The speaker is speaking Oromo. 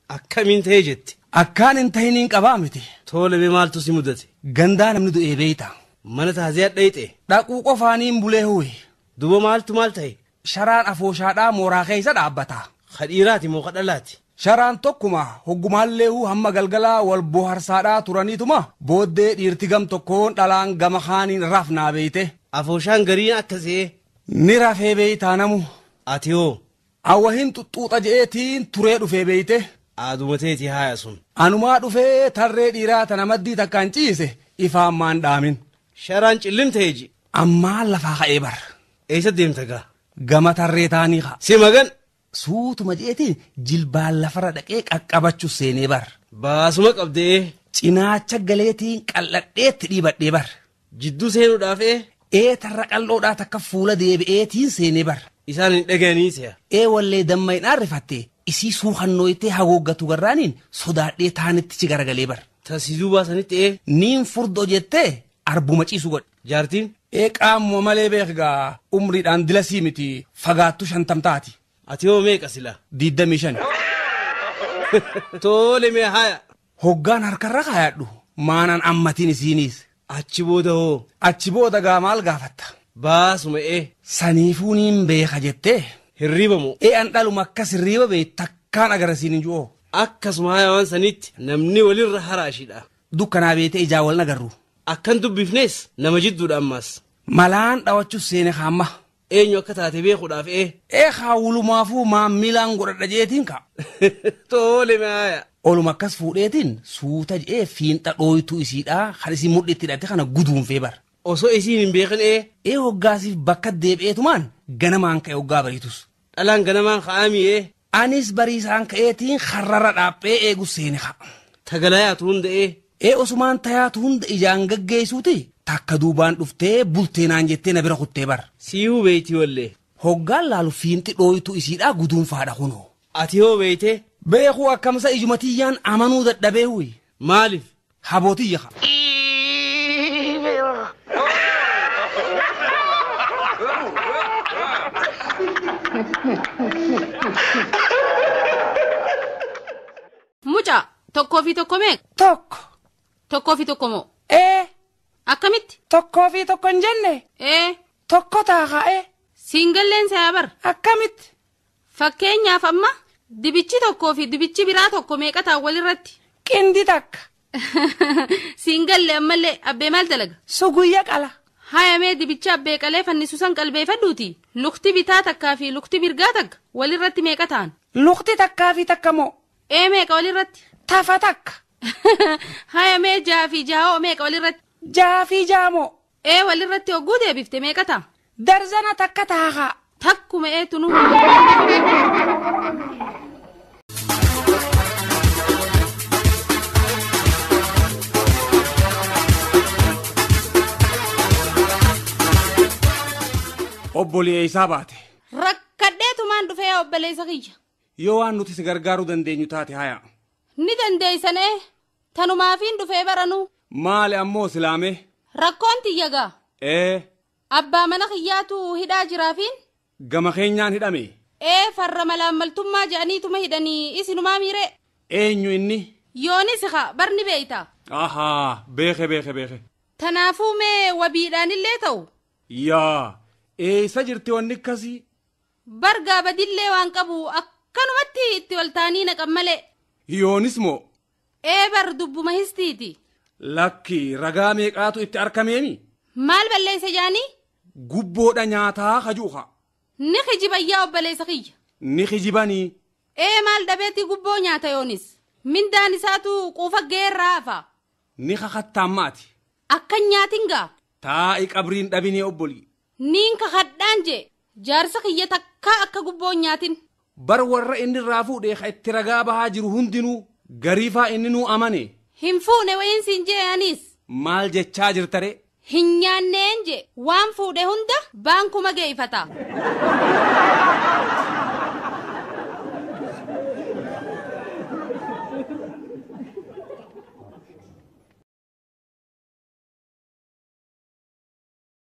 Akkamiin ta'ee jette? Akkaan hin tahiniin qabaa miti. Toole mee maaltu si mudate? Gandaa namni du'ee beeyta. Mana taaziyaa dhayxe. Dhaquu qofaaniin bulee huwe. Duba maaltu maal ta'e? Sharaan afooshaadhaa mooraa keessa dhaabbata. Ka dhiiraati moo ka dhalaati? Sharaan tokkuma hoggumaallee huu hamma galgalaa wal boharsaadhaa turaniituma booddee dhiirti gam tokkoon dhalaan gama kaaniin rafnaa beeyte. Afooshaan gariin akka se'ee. Ni rafee beeytaa namu. Ati hoo An wahin xuxxuuxa je'ee tiin turee dhufee beeyte. Aaduma teeti haaya sun. Anumaa dhufee tarree dhiiraa tana maddii takkaan ciise ifaan maan dhaamin. Sharaan cillim ta'e ji. Ammaan lafaa ka'ee bar. Eeysa deemta gaa. Gama tarree taanii ka. Si magan. Suutuma je'ee tiin jilbaan lafarra dhaqee qaqqabachu seenee bar. Baasuma qabde'ee. Cinaacha galee tiin qal'adhee itti dhiibadhee bar. Jidduu seenuudhaaf ee. Ee tarra qal'oodhaa takka fuula deebi'eetiin seene bar. Isaan hin dhagayanii se'a. Ee wallee damma hin aarrifattee isii suukannooytee hagooggatu garraaniin sodaadhee taanittichi garagalee bar. Ta si duubaa sanitti ee. Niin furdo jettee arbuma ciisu godhe. Jaartiin. Ee qaamuma malee beek gaa umriidhaan dilasii miti fagaattu shantam taati. Ati hoo meeqa sila? Diiddamii shani. Toole mee haya. Hoggaan harka irra kaayadhu maanan ammatin isiiniis. Achi booda hoo? Achi booda gaa maal gaafatta? Baa sume'e. Saniifuu niin beeka jettee? Hirriiba moo? Ee an dhaluma akkas hirriiba beeytu takkaan agarre siinin ju'oo. Akkasuma haaya waan saniitti namni walirra haraashidha. Dukkanaa beeytee ijaan wal hin agarru. Akkan dubbifnees nama jidduudha ammaas. Malaan dhawachus seene kaamma. Eenyu akka taate beekuudhaaf ee. Ee kaa wulumaafuu maammilaan godhadha je'eetiin ka. Toole me aaya. Oluma akkas fuudheetiin suuta je'ee fiinxa dhooytuu isiidhaa kan isiin mudhii itti hidhatte kana guduunfee bar. Osoo isiin hin beekin ee. Ee hoggaasiif bakka deebi'eetumaan ganamaan ka'e hoggaa bariitus. Dhalaan ganamaan ka'aa mii ee. Anis bariisaan ka'eetiin karra irra dhaaphee eegu seene ka. Tagalayaatu hunda ee. Ee osumaan tayaatu hunda ijaan gaggeessuuti takka duubaan dhuftee bultee naan jettee na bira kuttee bar. Siihuu beeytii wallee. Hoggaan laalu fiinxi dhooytuu isiidhaa guduunfaadha kunoo. Ati hoo beeytee? Beekuu akkamsa ijuma tiyyaan amanuu dadhabee huy. Maalif? Haboo tiyya kaa. Mucaa, tokkoo fi tokko meeqa? Tokko. Tokkoo fi tokko moo? Ee. Akkamitti? Tokkoo fi tokko hin jenne. Ee. Tokko taaka'ee. Siin galleen sayaa bar. Akkamitti? Fakkeenyaaf amma dibichi tokkoo fi dibichi biraa tokko meeqa ta'an walirratti? Qindi takka. Siin galle ammallee abbee maal dalaga? Suguyya qala. Haya mee dibicha abbee qalee fannisu san qalbeefadhuuti lukti bitaa takkaa fi lukti mirgaa takka walirratti meeqa ta'an? Lukti takkaa fi takka moo? Ee meeqa walirratti? Tafa takka. Haya mee jaha fi jaha hoo meeqa walirratti? Jaha fi jaha moo? ee walirratti hogguu deebifte meeqa ta'a? Darzana takka taha kaa. Takkuma ee tunuu hin Obbolii eessaa baate? Rakkadheetumaan dhufee yaa obboleessa kiyya. Yoo waan nuti si gargaaruu dandeenyu taate haya. Ni dandeessan ee Tanumaafiin dhufee bar anuu. Maali ammoo silaa mee. Rakkoon tiyya gaa. Ee. Abbaa mana kiyyaatu hidhaa jiraafiin. Gama keenyaan hidhame. Ee farra malaammaltummaa je'aniituma hidhani isinumaamii ree? Eenyu inni? Yoonisi kaa bar ni beeyta. Ahaa beeke beeke beeke. Tanaafuu mee wabiidhaanillee ta'u. Yaa eeysa jirti wanni kkasii. Bar gaa badillee waan qabu akkanumatti itti ol taanii naqan malee. Hiyoonis moo? Ee bar dubbuma histiiti. Lakki ragaa meeqaatu itti arkameemi? Maal balleeyse jaanii? Gubboodha nyaataa kajuu kaa. Ni kijiban yaa obbaleeysa kiyya. Ni kijibanii. Ee maal dhabeeti gubboo nyaata yoonis. Mindaan isaatu quufa ga'ee irraa hafa. Ni kakattaan maati. Akkan nyaatin gaa. Taa'i qabriin dhabinee obbolii. Niin kakhadhaan je'e, jaarsa khiyya takkaa akka gubboo hin nyaatin. Bar warra inni irraa fuudhe kha itti ragaa bahaa jiru hundinuu, garii faa inninuu amane. Hin fuune wayiin siin je'e aniis. Maal jechaa jirta ree? Hin nyaanneen je'e, waan fuudhe hunda baankuma geeyfata.